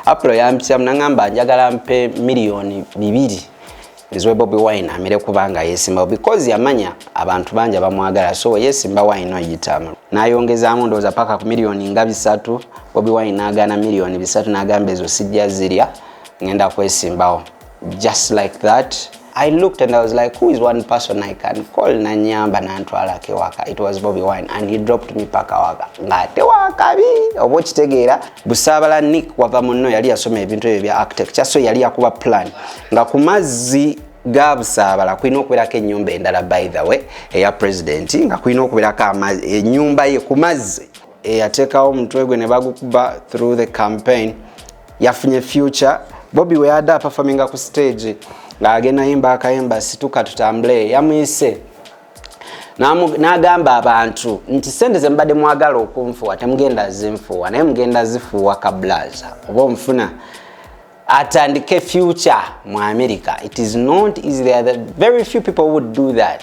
Apro yampitamu nangamba njagala mpe miliyoni bibiri nziwe Bobi Wine amire kubanga yesimbawo because yamanya abantu bangi abamwagala so yesimba wine oyitamu nayongezaamu ndowooza paka ku miliyoni nga bisatu Bobi Wine n'agaana miliyoni bisatu n'agamba ezo sijja zirya ngenda kwesimbawo just like that I looked and I was like, who is one person I can call nanyamba nantwala kewaka? It was Bobby Wine and he dropped me paka waka. Ngate waka bi. Obo kitegeera busabala Nick wava munno yali yasoma ebintu ebyo bya architecture so yali yakuba plan nga ku mazzi ga busaabala kulina okubeerako ennyumba endala by the way eya president nga kulina okubeerako ennyumba ye ku mazzi eyateekawo omutwe gwe ne bagukuba through the campaign yafunye future bobi weyada apafaminga ku stage ng'agenda yimba akayimba situka tutambule yamuyise n'agamba abantu nti sente ze mubadde mwagala okunfuwa temugenda zinfuwa naye mugenda zifuuwa kablaza oba omufuna atandike future mu america it is not easy there are very few people would do that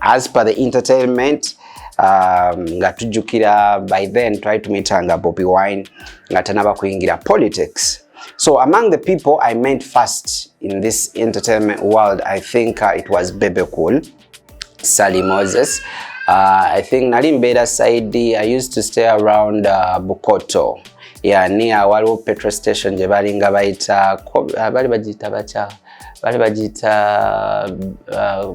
As per the entertainment um, nga tujjukira by then twali tumitanga Bobi Wine nga tanaba kuyingira politics So among the people I met first in this entertainment world, I think uh, it was Bebe Cool, Sally Moses. Uh, I think nali mbeera side I used to stay around uh, Bukoto yeah, near waliwo petrol station gye balinga bayita uh, bali bagiyita bakya bali bagiyita uh,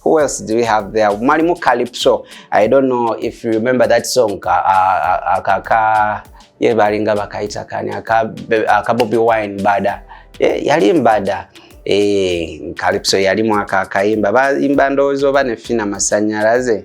Who else do we have there? Mwalimu Calypso. I don't know if you remember that song. Ka, uh, ka, ka, ye balinga bakaita kani aka, aka Bobby Wine bada. Eh, yali mbada. Eh, Calypso yali mwaka akaimba. Ba imba ndozo ba nefina masanyaraze. Eh,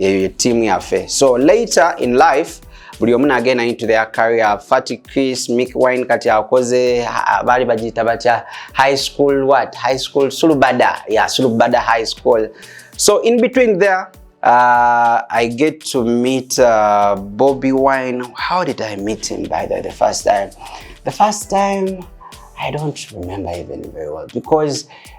eyo ye tiimu yaffe so later in life buli omu nagenda into their career fati chris mick wine kati akoze baali bagiyita batya high school what high school sulubada ya sulubada high school so in between there uh, i get to meet uh, bobby wine how did i meet him by the, the first time the first time i don't remember even very well because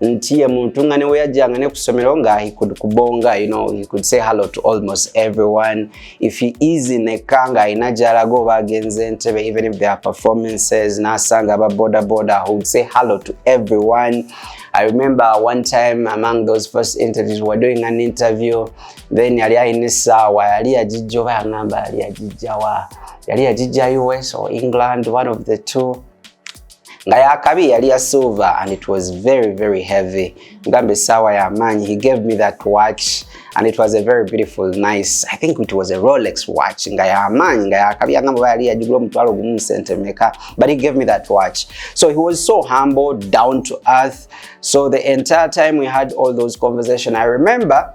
nti ye muntu nga newe yajjanga ne ku ssomero nga he could kubonga you know, he could say hello to almost everyone if he is in a car nga alina gyalaga oba agenze entebe even if there are performances n'asanga aba boda boda who would say hello to everyone I remember one time among those first interviews we were doing an interview then yali alina essaawa yali yagijja oba yangamba yali yagijjawa yali yagijja us or england one of the two nga yakabi yali ya silver and it was very very heavy ngambe sawa ya manyi he gave me that watch and it was a very beautiful nice i think it was a rolex watch nga ya manyi nga yakabi angambo yali ya jigula mutwalo gumu sente meka but he gave me that watch so he was so humble down to earth so the entire time we had all those conversation i remember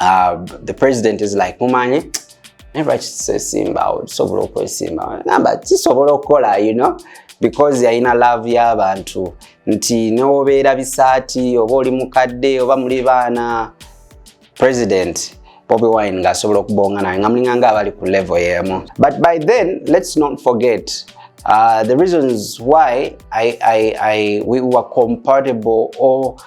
uh, the president is like mumanyi naye lwaki kisesimbawo tusobola okwesimbawo namba kisobola okukola you know because yalina love y'abantu nti newobeera bisaati oba oli mukadde oba muli baana president bobi wine ng'asobola okubonga naye nga mulinga nga abali ku level yeemu but by then let's not forget uh, the reasons why I, I, I, we were compatible or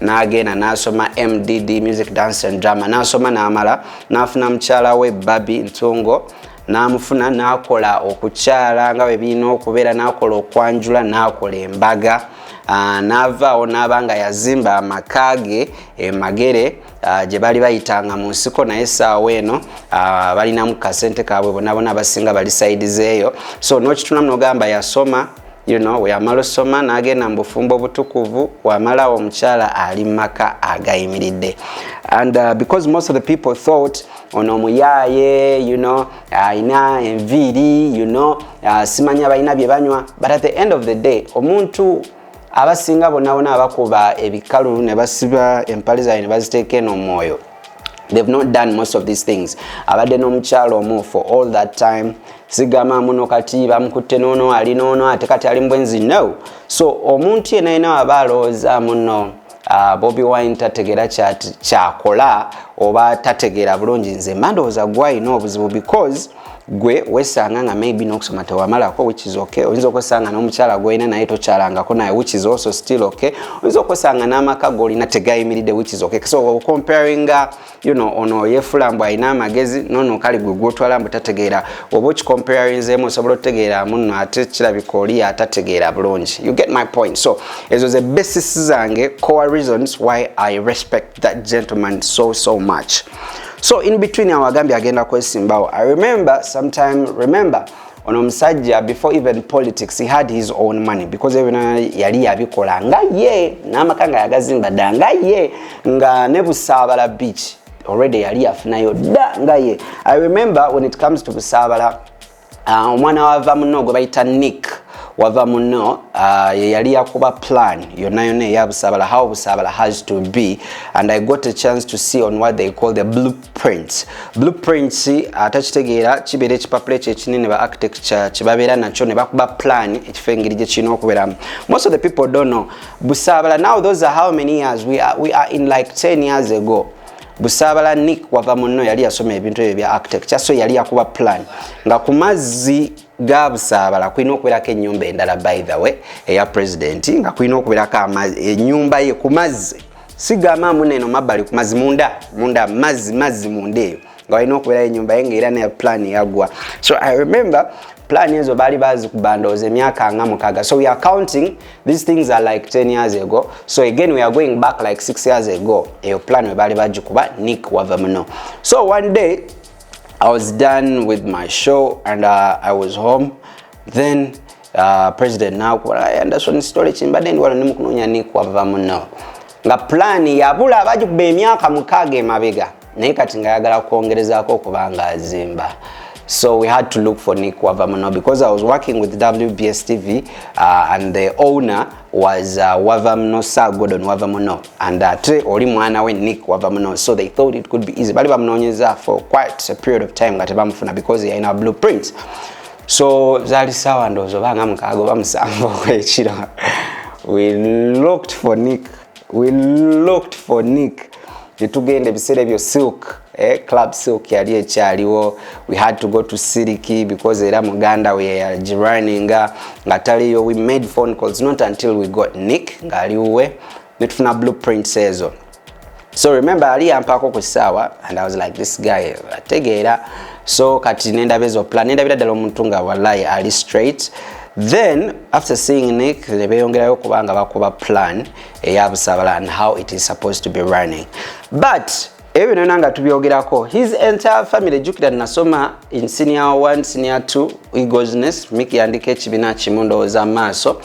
n'agenda n'asoma mdd music dance and drama n'asoma n'amala n'afuna mukyala we babi ntungo n'amufuna n'akola okukyala nga bwe birina okubeera n'akola okwanjula n'akola embaga ah, n'avaawo n'aba nga yazimba amaka ge emagere ah, gye bali bayitanga mu nsiko naye essaawa eno ah, balinamu kasente kaabwe bonabona abasinga bali saidi zeeyo so n'okitunamu nogamba yasoma you know, weyamala osoma n'agenda mu bufumbo obutukuvu wamalawo omukyala ali mu maka agayimiridde and uh, because most of the people thought ono omuyaaye you know alina enviiri you know uh, simanya balina bye banywa but at the end of the day omuntu abasinga bonabona abakuba ebikalu ne basiba empale zaabwe ne baziteeka eno omwoyo they've not done most of these things abadde n'omukyalo omu for all that time sigama muno kati bamukutte noono ali noono ate kati ali mubwenzi no so omuntu yena yena waba alowooza muno uh, bobi wine tategera kyakola oba tategera bulungi nze mandowooza gwalina obuzibu because gwe wesanga nga maybe nokusoma tewamalako which is okay oyinza okwesanga nomukyala gwolina naye tokyalangako naye which is also still okay oyinza okwesanga n'amaka golina tegayimiridde which is okay so comparing uh, you know ono yefula mbu alina amagezi nono kali gwe gwotwala mbu tategeera oba okicomparinzemu osobola otegeera muno ate kirabika oli atategeera bulungi you get my point so ezo ze basis zange core reasons why i respect that gentleman so so much so in between awagambye agenda kwesimbawo i remember sometime remember ono omusajja before even politics he had his own money because even yali yabikola nga ye n'amaka nga yagazimba dda nga ye nga ne busaabala beach already yali yafunayo dda nga ye i remember when it comes to busaabala Ah, omwana wava muno gwe bayita nick wava muno ah, yeyali yakuba plan yonna yonna eyabusabala how busabala has to be and i got a chance to see on what they call the blueprints blueprints ah, atakitegeera kibeera ekipapula ekyo ekinene ba architecture kyebabeera nakyo ne bakuba plan ekifo engeri gye kirina okubeeramu most of the people don't know busabala now those are how many years we are, we are in like 10 years ago busaabala nick wava munno yali yasoma ebintu ebyo bya actec kyaso yali yakuba plan nga ku mazzi ga busaabala kulina okubeerako enyumba endala by the way eya president nga kulina okubeerako enyumba ye ku mazzi sigamba muna eno mabbali ku mazzi munda munda mazzi mazzi munda eyo nga walina okubeerayo enyumba ye nga era ne plan yagwa so i remember plan ezo baali bazikubandooza emyaka nga mukaga so we are counting these things are like 10 years ago so again we are going back like 6 years ago eyo plan webali bagikuba nick wava muno so one day i was done with my show and uh, i was home then uh, president nakuba anderson story kimbadde ndi wano nimukunonya nick wava muno nga pulaani yabula bagikuba emyaka mukaaga emabega naye kati nga ayagala kwongerezaako okuba nga azimba so we had to look for nick wava muno because i was working with wbs tv uh, and the owner was uh, wava muno sir gordon wava muno and ate uh, oli mwana we nick wava muno so they thought it could be easy bali bamunoonyeza for quite a period of time nga tebamufuna because yalina blueprint so zali sawa ndowooza obanga mukaaga oba musanvu okwekiro we looked for nick we looked for Nick netugenda ebiseera ebyo silk eh, club silk yali ekyaliwo we had to go to siliki because era muganda we yagirunninga nga taliyo we made phone calls not until we got nick ng'ali wuwe netufuna blueprints ezo so remember ali yampaako ku saawa and i was like this guy ategeera so kati nendaba ezo plan nendabira ddala omuntu nga wallahi ali straight Then after seeing Nick nebeyongerayo kubanga bakuba plan eya Busabala and how it is supposed to be running but ebyo byonna nga tubyogerako his entire family jukira nasoma in senior 1 senior 2 egosness Mick yandika ekibiina kimu ndowooza maaso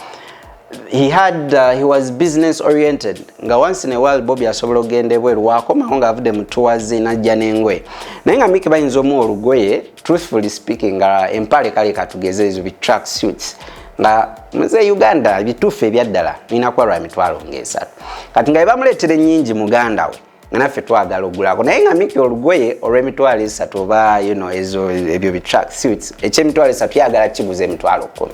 he had uh, he was business oriented nga once in a while Bobby asobola okugenda ebweru wakomawo nga avude mu tours najja n'engoye naye nga Mick bayinza omu olugoye truthfully speaking nga empale kale katugeze ezo bi track suits nga muze uganda bituufu ebyaddala nina kuba lwa mitwalo ngaesatu kati nga ebamuleetera enyingi muganda we nga naffe twagala ogulako naye nga miki olugoye olwemitwalo esatu oba yuno ezo ebyo bi track suits ekyemitwalo esatu yagala kiguza emitwalo kumi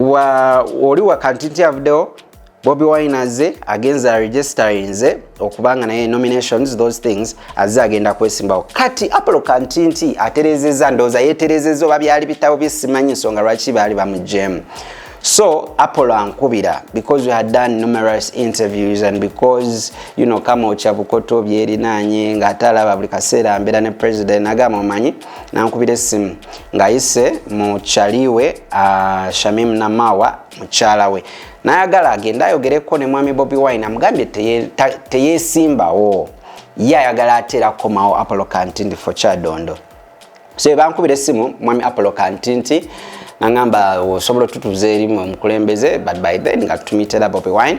wa oli wakanti nti avuddewo bobi wine azze agenze aregisterinze okubanga naye nominations those things azze agenda kwesimbawo kati apolo kantinti aterezeza ndowooza yeterezeza oba byali bitabo byesimanyi nsonga lwaki baali bamujemu so apolo ankubira because we had done numerous interviews and because you know kama okyabukoto byerinanye ngaate alaba buli kaseera mbeera ne president agamba omanyi nankubira essimu ng'ayise mu kyaliwe uh, shamim namawa mukyala we nayagala agende ayogereko ne mwami bobi wine amugambye teyesimbawo teye ye ayagala ateera kukomawo apollo kantindi fo kyadondo so ebankubira essimu mwami apollo kantindi nangamba osobola otutuza erimu omukulembeze but by then nga tutumitera bobi wine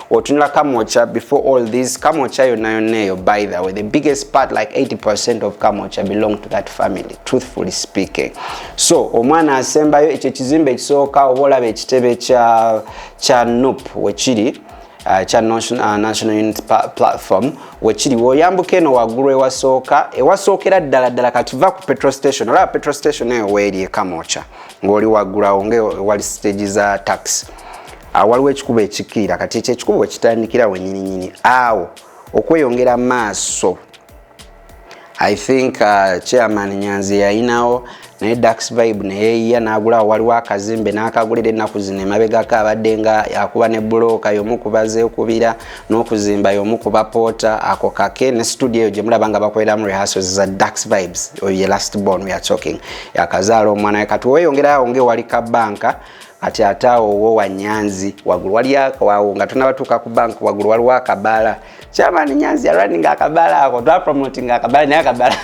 otunula kamocha before all this kamocha yonna yonna eyo by the way the biggest part like 80 percent of kamocha belong to that family truthfully speaking so omwana asembayo ekyo ekizimba ekisooka oba olaba ekitebe kya kya nup wekiri uh, kya uh, national unit platform wekiri woyambuka eno waggulu ewasooka ewasookera ddala ddala kati va ku petrol station olaba petrol station eyo weeri ekamocha ng'oli waggulu awo ngaewali stage za taxi awo waliwo ekikubo ekikkirira kati ekyo ekikubo we kitandikira wenyininyini awo okweyongera maaso i think uh, chairman nyanzi yayinawo naye dax vibe neyeyiya nagulawo waliwo akazimbe nakagulira ennaku zino emabegako abadde nga akuba ne bulooka yomu kubaza ekubira n'okuzimba yomu kuba poota ako kake ne studio eyo gyemulaba nga bakoleramu rehearsals za dax vibes oyo ye last born we are talking yakazaala omwana we kati weyongerayo awo ngaewali kabanka kati ate awo wo wa nyanzi wagulu wali awo nga tunabatuuka ku bank wagulu waliwo akabaala kyamaani nyanzi yaraninga akabaala ako twapromotinga akabaala naye akabaala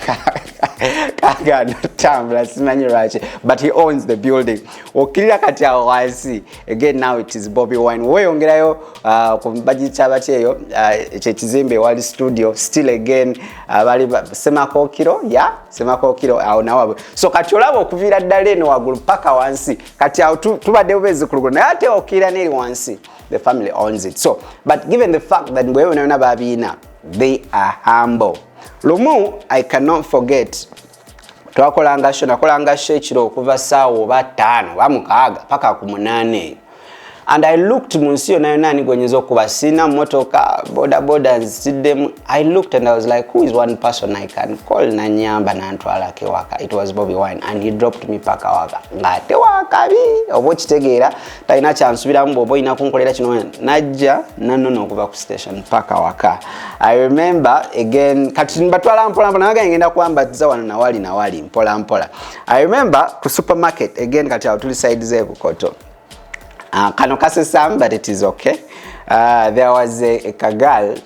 kagana tambula simanyi lwaki but he owns the building okkirira kati awo wansi again now it is bobby wine weyongerayo uh, ku bagikyaba kyeyo uh, ekyekizimbe ewali studio still again uh, bali semakookiro ya yeah? semakokiro awo nawe so kati olaba okuviira ddala eno wagulu paka wansi kati awo tubadde bubezikulugulu naye ate okiira neri wansi the family owns it so but given the fact that mbwewe nayona babiina they are humble lumu i cannot forget twakolanga sho nakolanga sho ekiro okuva saawa oba ttaano oba mukaaga paka ku munaana eyo and i looked mu nsi yona yona ani gwenyinza okuba sina motoka bodaboda nzitiddemu i looked and i was like who is one person i can call nanyamba nantwalako ewaka it was bobby wine and he dropped me paka waka ngaate wakabi oba okitegeera talina kyansubiramu bwoba olina kunkolera kino najja nanona okuva ku station paka waka i remember again kati mbatwala mpolampola naga ngenda kuwambatiza wano nawali nawali mpolampola i remember ku supermarket again kati awo tuli side zebukoto Uh, kano kasesamu but it is okay. Uh, there was a, a kagal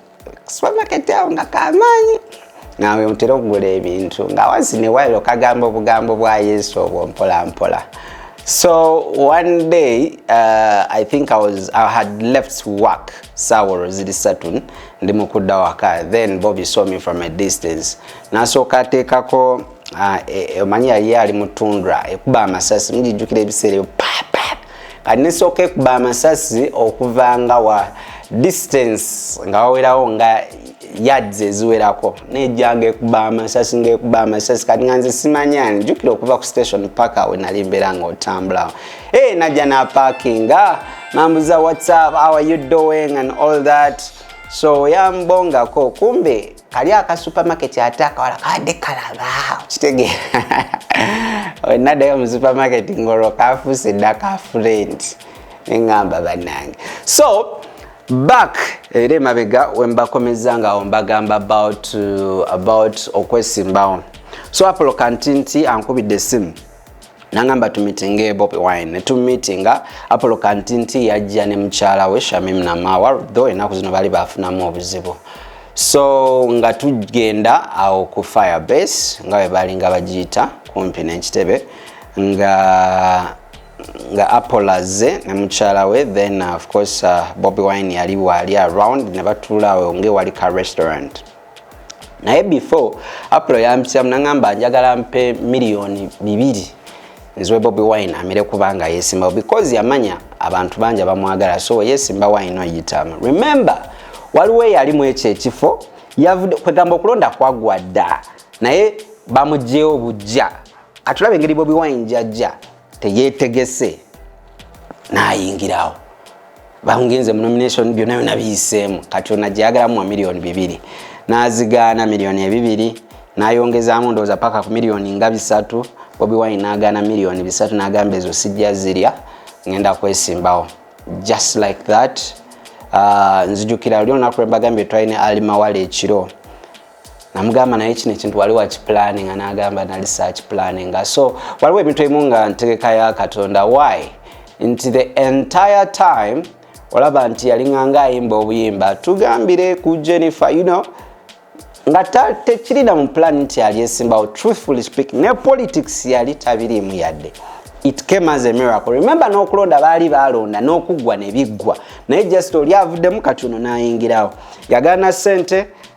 supermarket awo nga kamaanyi nawe ntera okugula ebintu nga wansi ne wailo kagamba obugambo bwa yesu obwo mpola mpola so one day uh, i think I, was, i had left work sawolo ziri satu ndi mukudda waka then bobi saw me from a distance nasooka ateekako Ah, eh, eh, omanyi yali ali mu tundra ekuba amasasi mujijjukira ebiseera ebyo kati nesooka ekuba amasasi okuva nga wa distance nga wawerawo nga yards eziwerako nejjanga ekuba amasasi ngaekuba amasasi kati nga nze simanyani jjukira okuva ku station paka we nali mbeera nga otambulawo e eh, najja napakinga nambuza whatsapp our you doing and all that so yambongako kumbe kali aka supermarket ate akawala kabadde kalaba kitegeera wenadayo mu supermarket ngolwo kafuuse dda ka friend neŋamba bannange so back era emabega wembakomeza nga ombagamba about, uh, about okwesimbawo so apolo kanti nti ankubidde esimu nangamba tumitinge bobi wine netumitinga apolo kantinti yajja ne mukyala we shamim namawa tho enaku zino bali bafunamu obuzibu so nga tugenda awo ku fire base nga webalinga bagiyita kumpi nenkitebe nga nga apolaze ne mukyala we then uh, of course uh, bobi wine yali waali around ne batuulaawo ngewali ka restaurant naye before apro yampisyamu naŋamba njagala mpe miliyoni bibiri nziwe bobi wine amire kubanga yesimbawo because yamanya abantu bangi abamwagala so yesimba wine oyitamu remember waliwo eyalimu ekyo ekifo yavudde kwegamba okulonda kwagwa dda naye bamugyewo bujja atulaba engeri bobi wine jajja teyetegese nayingirawo bangenze mu nomination byonna byona biyiseemu kati ona gyeyagalamu wa miliyoni bibiri nazigaana miliyoni ebibiri nayongezamu ndowooza paka ku miliyoni nga bisatu bobi wine nagaana miliyoni bisatu nagamba ezo sijja zirya ngenda kwesimbawo just like that uh, nzijukira luli olunaku lwembagambye twalina alimawala ekiro namugamba naye kino ekintu wali wakipulaninga n'agamba nali sakipulaninga so waliwo ebintu ebimu nga ntegeka ya katonda why nti the entire time olaba nti yalinganga ayimba obuyimba tugambire ku jennifer you know nga tekirina mu pulani nti yali esimbawo truthfully speaking ne politics yali tabiriimu yadde it came as a miracle remember n'okulonda baali baalonda n'okuggwa ne biggwa naye just oli avuddemu kati ono n'ayingirawo yagaana ssente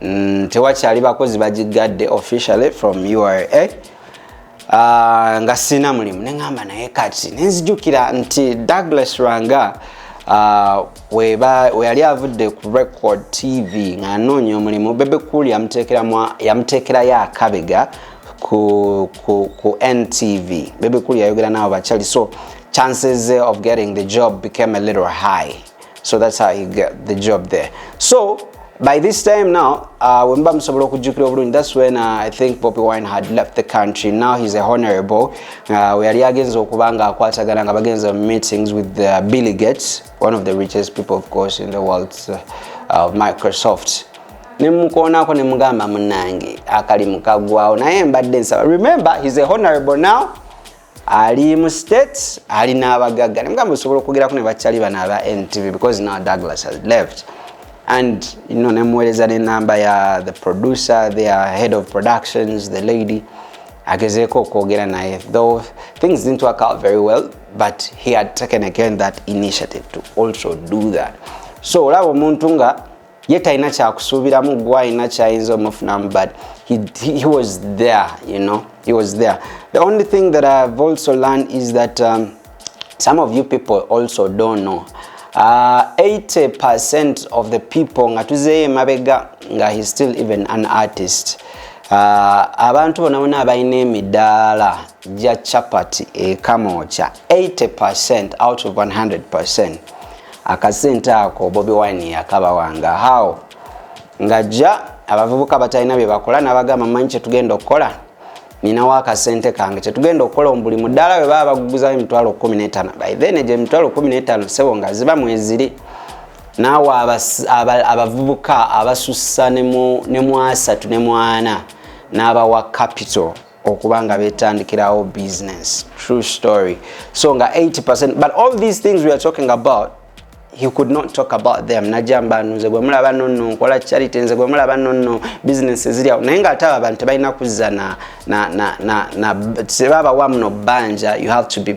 mm, tewakyali bakozi bagiggadde officially from ura Uh, ah, nga sina mulimu neŋamba naye kati nenzijukira nti douglas rwanga uh, weyali avudde ku record tv nga anoonya omulimu bebe cool yamuteekerayo akabega ku, ku, ku ntv bebe cool yayogera nabo bakyali so chances of getting the job became a little high so that's how he got the job there so by this time now uh, wemba musobola okujjukira obulungi thats when uh, i think poppy wine had left the country now he's a honorable uh, weyali agenza okuba nga akwatagana nga bagenza meetings with the uh, billy gates one of the richest people of course in the world uh, of microsoft nemukoonako nemugamba munange akali mukagwawo naye mbadde nsaba remember he's a honorable now ali mu states ali n'abagagga nemugamba osobola okwogerako ne bakyali bano aba ntv because now douglas has left and you know, nemuweereza nenamba ya the producer their head of productions the lady agezeeko okwogera naye though things didn't work out very well but he had taken again that initiative to also do that so olaba omuntu nga ye talina kyakusuubiramu gwe alina kyayinza omufunamu but he, he, he was there you know he was there the only thing that i've also learned is that um, some of you people also don't know uh, 80 percent of the people nga tuzeeyo emabega nga he still even an artist uh, abantu bona bona abalina emidaala ja chapati ekamoocha 80% out of 100% akasente ako bobi wine yakabawanga how nga ja abavubuka batalina byebakola nabagamba manyi kyetugenda okukola ninawo akasente kange kyetugenda okukola omubuli mudaala we baba baguguzawo emitwalo 15 by then egyo emitwalo 15 sebo nga ziba mweziri naawe abavubuka abasussa ne mu asatu ne mwana n'abawa capital okuba nga betandikirawo business true story so nga 80 but all these things we are talking about he could not talk about them najamba nze gwe mulaba nonno nkola charity nze gwe mulaba nonno business ziri awo naye nga ate abo abantu tebalina kuzza na, na, na, na, na tebabawa muno bbanja you have to be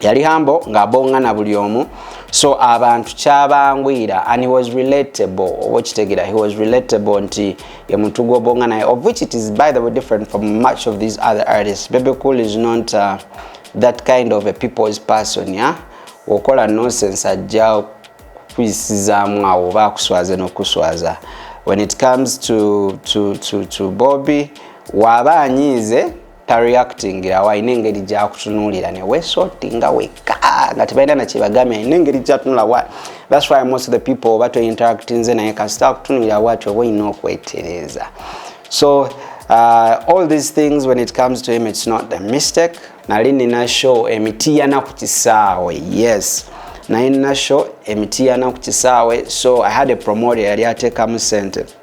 yali hambo ng'abongana buli omu so abantu kyabangwira and he was relatable oba okitegera he was relatable nti ye muntu gwobonga naye of which it is by the way different from much of these other artists bebe cool is not uh, that kind of a people's person ya okola nonsense ajja kuyisizaamu awo oba akuswaze n'okuswaza when it comes to, to, to, to bobby waaba anyiize tareactingira awo alina engeri gyakutunuulira newesotinga weka nga tebalina nakyebagambye alina engeri gyatunula wa thats why most of the people oba tointeractinze naye kasita akutunuulira wati oba olina okwetereeza so uh, all these things when it comes to him it's not a mistake nali nina show emitiyana ku kisaawe yes naye nina show emitiyana ku kisaawe so i had a promoter yali ateekamu sente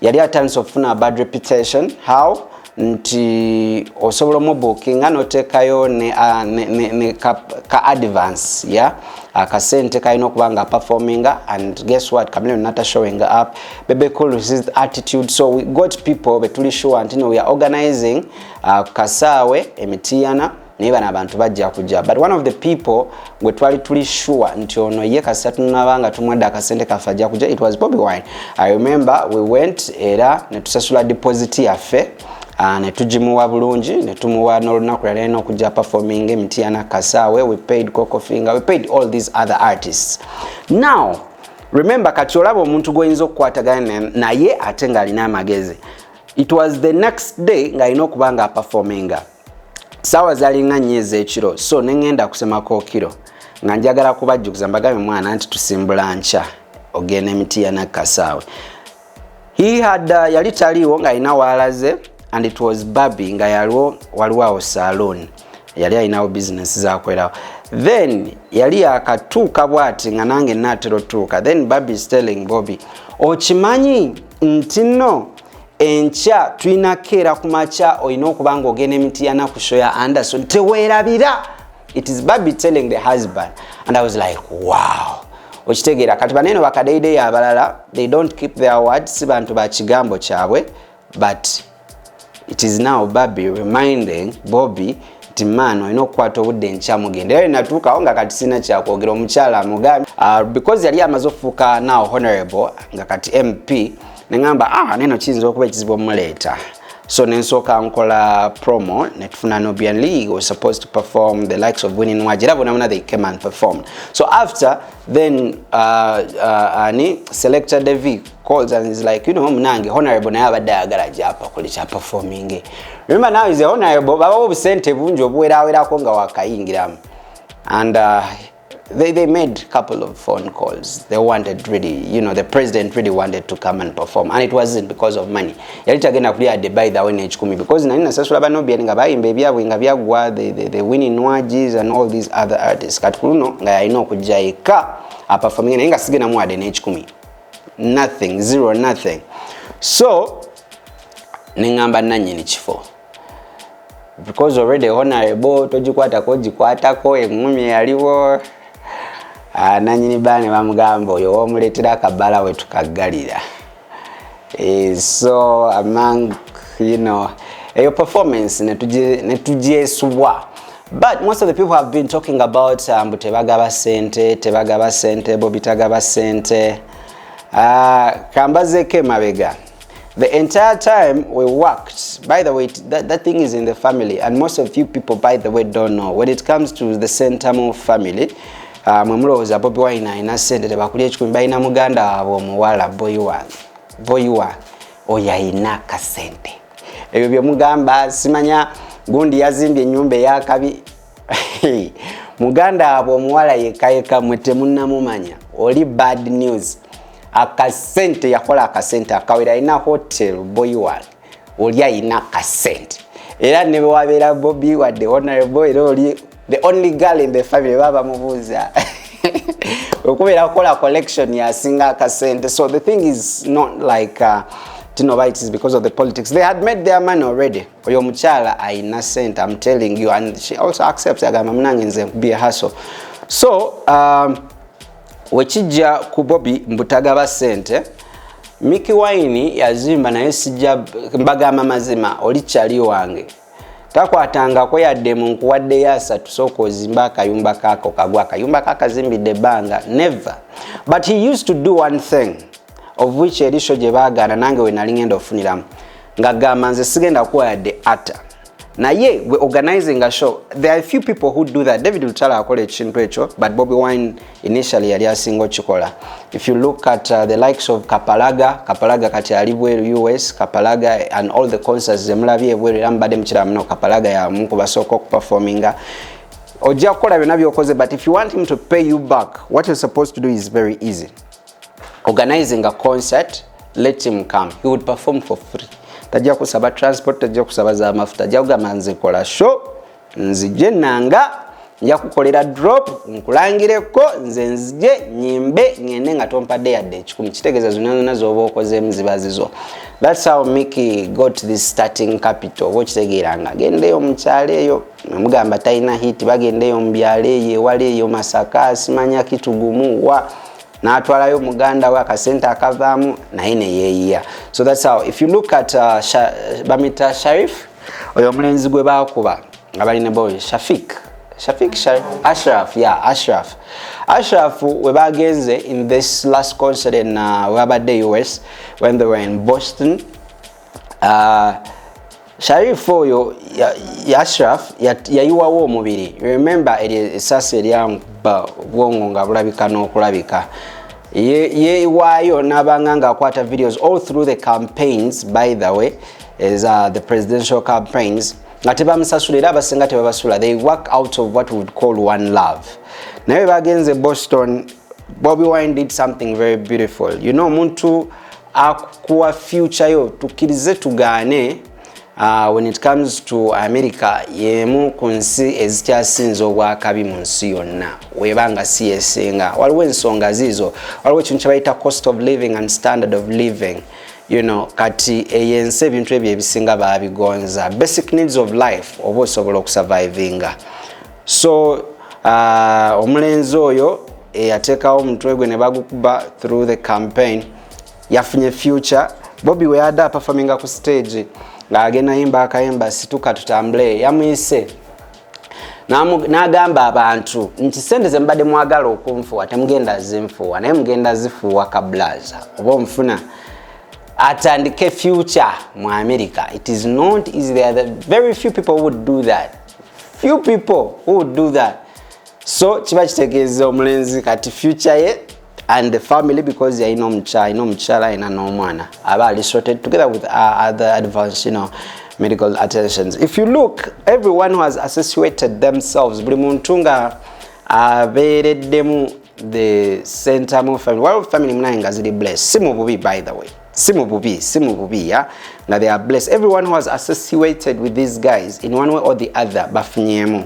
yali atandise okufuna bad reputation how nti osobola omubukinga notekayo ne, uh, ne, ne, ne ka, ka advance ya yeah? akasente kalina okuba nga performinga and guess what kamilio nata showing up bebe cool his attitude so we got people betuli sure nti no we are organizing uh, kasaawe emitiyana naye bano abantu bajja kujja but one of the people gwe twali tuli sure nti ono ye kasita tunaba nga tumwadde akasente kaffe ajja kujja it was bobi wine i remember we went era netusasula deposit yaffe Ah, netugimuwa bulungi netumuwa nolunaku yalina okujja performing emitiana kasaawe we paid cocofinger we paid all these other artists now remember kati olaba omuntu gwoyinza okukwatagana naye ate ng'alina amagezi it was the next day ng'alina okuba nga aperforminga saawa zalinga nnyo ez'ekiro so ne ŋŋenda kusemako kiro nga njagala kubajjukiza mbagabe mwana nti tusimbula nkya ogenda emiti ya nakkasaawe he had uh, yali taliiwo ng'alina waalaze and it was baby nga yaliwo waliwo awo saloon yali alinawo bizinesi zakwerawo then yali yakatuuka bwati nga nange naatera otuuka then baby stelling bobi okimanyi nti no enkya tulina keera ku makya olina okuba nga ogenda emiti ya nakusho ya anderson teweerabira it is baby telling the husband and i was like wow okitegeera kati baneno bakadeideyo abalala they don't keep their word si bantu ba kigambo kyabwe but it is now baby reminding bobby nti man olina okukwata obudde enkya mugende era natuukawo nga kati sirina kyakwogera omukyala amugambi uh, because yali amaze okufuuka now honorable nga kati mp neŋamba ah, neno kiyinza okuba ekizibu omuleeta so nensooka nkola promo netufuna nubian league was supposed to perform the likes of winning waji era bonabona they came and performed so after then uh, uh, ani selector devi calls and is like you know munange honorable naye abadde ayagala japa kuli kya performing remember now is a honorable baba obusente bungi obuwerawerako nga wakayingiramu and uh, they, they made a couple of phone calls they wanted really you know the president really wanted to come and perform and it wasn't because of money yali tagenda kuli ade by the way nekikumi because nani nasasula banobian nga bayimba ebyabwe nga byagwa the, the, the winning nwagis and all these other artists kati kuluno nga yalina okujja yekka aperforming naye nga sigenamu ade nekikumi nothing zero nothing so neŋamba nanyini kifo because already honorable togikwatako ogikwatako eŋumi yaliwo ah, nanyini baa ne bamugamba oyo womuleetera akabbala wetukaggalira eh, so among you know eyo performance netugyesubwa But most of the people have been talking about uh, mbu tebagaba sente tebagaba sente bobi tagaba sente uh, kambazeko emabega the entire time we worked by the way that, that thing is in the family and most of you people by the way don't know when it comes to the sentamo family uh, mwe mulowooza bobi wine alina sente tebakulya ekikumi balina muganda waabwe omuwala boyiwa boyiwa oyo alina kasente ebyo bye mugamba simanya gundi yazimbye ennyumba eyakabi muganda waabwe omuwala yekayeka mwe temunnamumanya oli bad news akasente yakola akasente akawera alina hotel boy wange oli alina akasente era ne bwewabeera bobi wadde honorable era oli the only girl in the family baba mubuuza okubeera kukola collection yasinga akasente so the thing is not like uh, tinobites because of the politics they had made their money already oyo omukyala ayina sente am telling you and she also accepts agamba munange nze be a hustle so um, wekijja ku bobi mbutagaba sente miki wine yazimba naye sijja mbagamba mazima oli kyali wange takwatangako yadde mu nkuwaddeyo asatu sooka ozimbe akayumba kaako kagwa akayumba kakazimbidde ebbanga never but he used to do one thing of which erisho gye baagaana nange we nali ngenda okufuniramu nga gamba nze sigenda kuwa yadde ata naye we organizing a show there are few people who do that david lutala akola ekintu ekyo but bobi wine initially yali asinga okikola if you look at uh, the likes of kapalaga kapalaga kati ali bweru us kapalaga and all the concerts zemulabye ebweru era mubadde mukiraba muno kapalaga yamu ku basooka okuperforminga ojja kukola byonna byokoze but if you want him to pay you back what you're supposed to do is very easy organizing a concert let him come he would perform for free tajja kusaba transport tajja kusaba za mafuta ajja kugamba nzikola show nzije nanga nja kukolera drop nkulangireko nze nzije nyimbe ngende nga tompadde yadde ekikumi kitegeeza zonna zonna z'oba okozeemu ziba zizo thats how miki got this starting capital oba okitegeera nga agendeyo mukyalo eyo amugamba talina hit bagendeyo mu byalo eyo ewala eyo masaka simanya kitugumu wa natwalayo muganda we akasente akavaamu naye neyeyiya so thats how if you look at uh, sha, bamita sharif oyo omulenzi gwe bakuba nga bali ne boy shafik shafik sharif ashraf ya yeah, ashraf ashraf we bagenze in this last concert in uh, webabadde us when they were in boston Uh, Sharif oyo ya, ya Ashraf yayiwawo ya omubiri remember esasi eryamba obwongo nga bulabika n'okulabika yewaayo nabanga nga akwata videos all through the campaigns by the way is uh, the presidential campaigns nga tebamusasula era abasinga tebabasula they work out of what would call one love naye bagenze boston bobi wine did something very beautiful you know omuntu akuwa future yo tukkirize tugaane uh, when it comes to america yemu ku nsi ezikyasinza obwakabi mu nsi yonna weba nga si yesinga waliwo ensonga ziizo waliwo ekintu kyebayita cost of living and standard of living you know kati eyo ensi ebintu ebyo ebisinga babigonza basic needs of life oba osobola okusurvivinga so uh, omulenzi oyo eyateekawo omutwe gwe ne bagukuba through the campaign yafunye future bobi weyada apafaminga ku stage ng'agenda yimba akayimba situka tutambule yamuyise n'agamba abantu nti sente ze mubadde mwagala okunfuwa temugenda zinfuwa naye mugenda zifuuwa kablaza oba omufuna atandike future mu america it is not easy there are very few people would do that few people who would do that so kiba kitegeeza omulenzi kati future ye and the family because yalina omukyala alina omukyala alina n'omwana aba ali sorted together with uh, other advance you know medical attentions if you look everyone who has associated themselves buli muntu nga abeereddemu the center mu family waliwo family munaye nga ziri bless si mu bubi by the way si mu bubi si mu bubi ya nga they are blessed everyone who has associated with these guys in one way or the other bafunyemu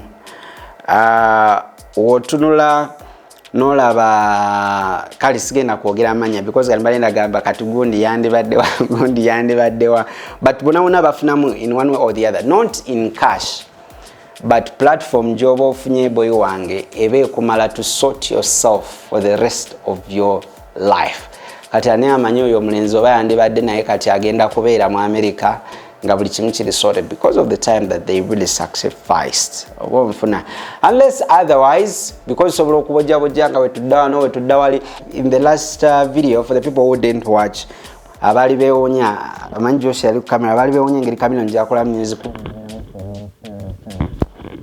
uh, wotunula nolaba kale sigenda kwogera amanya because kati balenda gamba kati gundi yandibaddewa gundi yandibaddewa but bonabona bafunamu in one way or the other not in cash but platform gyoba ofunye boy wange eba ekumala to sort yourself for the rest of your life kati ani amanyi oyo omulenzi oba yandibadde naye kati agenda kubeera mu america nga buli kimu kiri sorted because of the time that they really sacrificed oba onfuna unless otherwise because osobola okubojabojja nga wetudda wano wetudda wali in the last uh, video for the people who didn't watch abaali bewunya amanyi josi yali kukamera abaali bewunya engeri kamino njakola music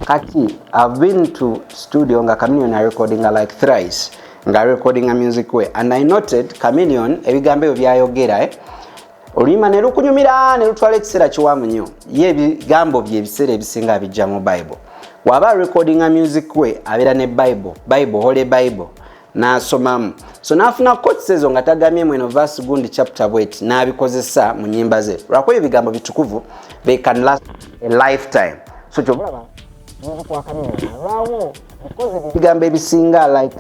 kati i've been to studio nga caminion arecordinga like thrice nga recordinga music we and i noted caminion ebigambo ebyo byayogera eh? oluyimba ne lukunyumira ne lutwala ekiseera kiwanvu nnyo ye ebigambo bye ebiseera ebisinga abijja mu bible waba recordinga music we abeera ne bible bible hole bible n'asomamu so n'afuna coats ezo nga tagamye mweno vas gundi chapter bwet n'abikozesa mu nyimba ze lwakuba ebyo bigambo bitukuvu they can last a lifetime so kyobalaba nzikwakanalwawo ebigambo ebisinga like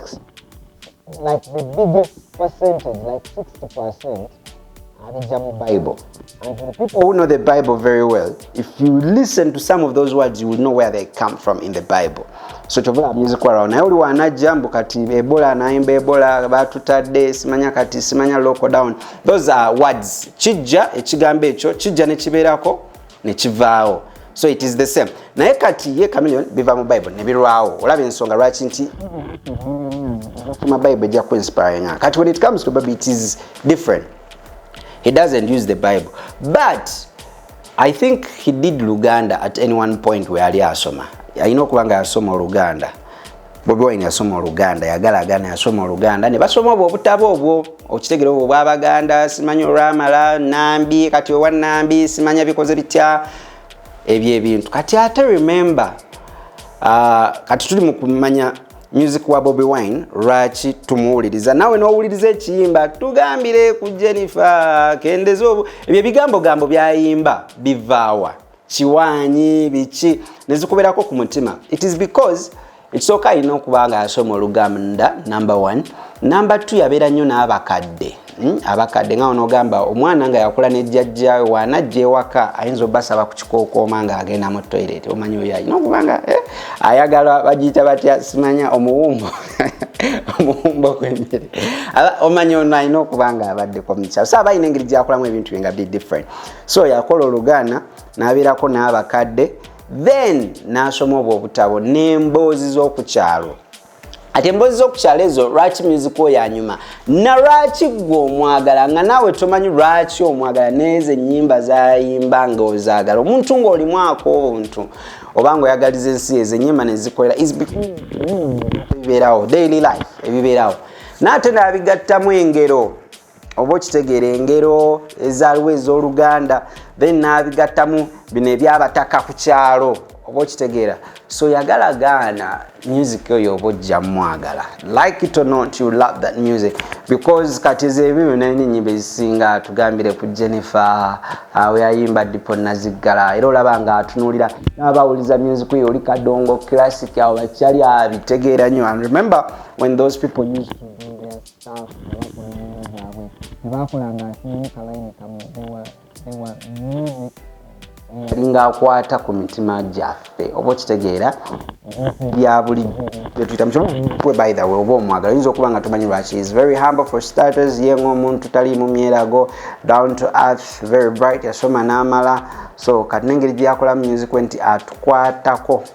like the biggest percentage like 60 percent abijja mu bible and for the people who know the bible very well if you listen to some of those words you will know where they come from in the bible so kyovula abyizikolawo naye oli wanajja mbu kati ebola nayimba ebola batutadde simanya kati simanya local down those are words kijja ekigambo ekyo kijja nekibeerako nekivaawo so it is the same naye kati ye camilion biva mu bible nebirwawo olaba ensonga lwaki nti kuma bible ejja kuinspiringa kati when it comes to baby it is different he doesn't use the bible but i think he did luganda at any one point weyali asoma alina okuba nga yasoma oluganda Bobi Wine yasoma oluganda yagala agana yasoma oluganda ne basoma obwo obutabo obwo okitegera obwo bwa baganda simanyi olwamala nambi kati owa nambi simanya bikoze bitya ebyo ebintu kati ate remember uh, kati tuli mu kumanya music wa Bobi Wine lwaki tumuwuliriza nawe n'owuliriza ekiyimba tugambire ku Jennifer kendeza obwo ebyo ebigambo gambo byayimba bivaawa kiwaanyi biki nezikuberako ku mutima it is because ekisooka alina okuba nga yasoma oluganda number one number two yabeera nnyo n'abakadde hmm? abakadde nga onogamba omwana nga yakula ne jjajjawe wanajja ewaka ayinza obasaba ku kikookooma nga agenda mu toilet omanyi oyo alina okuba nga eh, ayagala bagiyita batya simanya omuwumbo omuwumbo gw'emmere omanyi ono alina okuba nga abaddeko mukyaso aba alina engeri gyakulamu ebintu bye nga bi different so yakola oluganda nabeerako n'abakadde then n'asoma obwo obutabo n'emboozi z'okukyalo ati emboozi z'okukyalo ezo lwaki myuzika oyo anyuma na lwaki gwe omwagala nga naawe tomanyi lwaki omwagala neezo ennyimba zayimba nga ozaagala omuntu ng'olimu ak'obuntu oba nga oyagaliza ensi ezo ennyimba nezikolera ebibeerawo daily life ebibeerawo naate nabigattamu engero oba okitegeera engero ezaaliwo ez'oluganda then n'abigattamu bino ebyabataka ku kyalo oba okitegeera so yagala gaana music oyo oba ojja mwagala like it or not you love that music because kati ezeebyo byona enyimba ezisinga tugambire ku jennifer awo uh, yayimba dipo naziggala era olaba nga atunuulira n'abawuliza music oyo oli kadongo classic awo bakyali abitegeera nyo and remember when those people used to South abakulembeze zaabwe tebaakola nga asinga kalayini kamu ewa ewa music alinga akwata ku mitima gyaffe oba okitegeera bya bulijjo byetuyita mukwe by the way oba omwagala oyinza okuba nga tumanyi lwaki is very humble for starters ye ngaomuntu tali mu myerago down to earth very bright yasoma n'amala so kati nengeri gyeyakola music nti atukwatako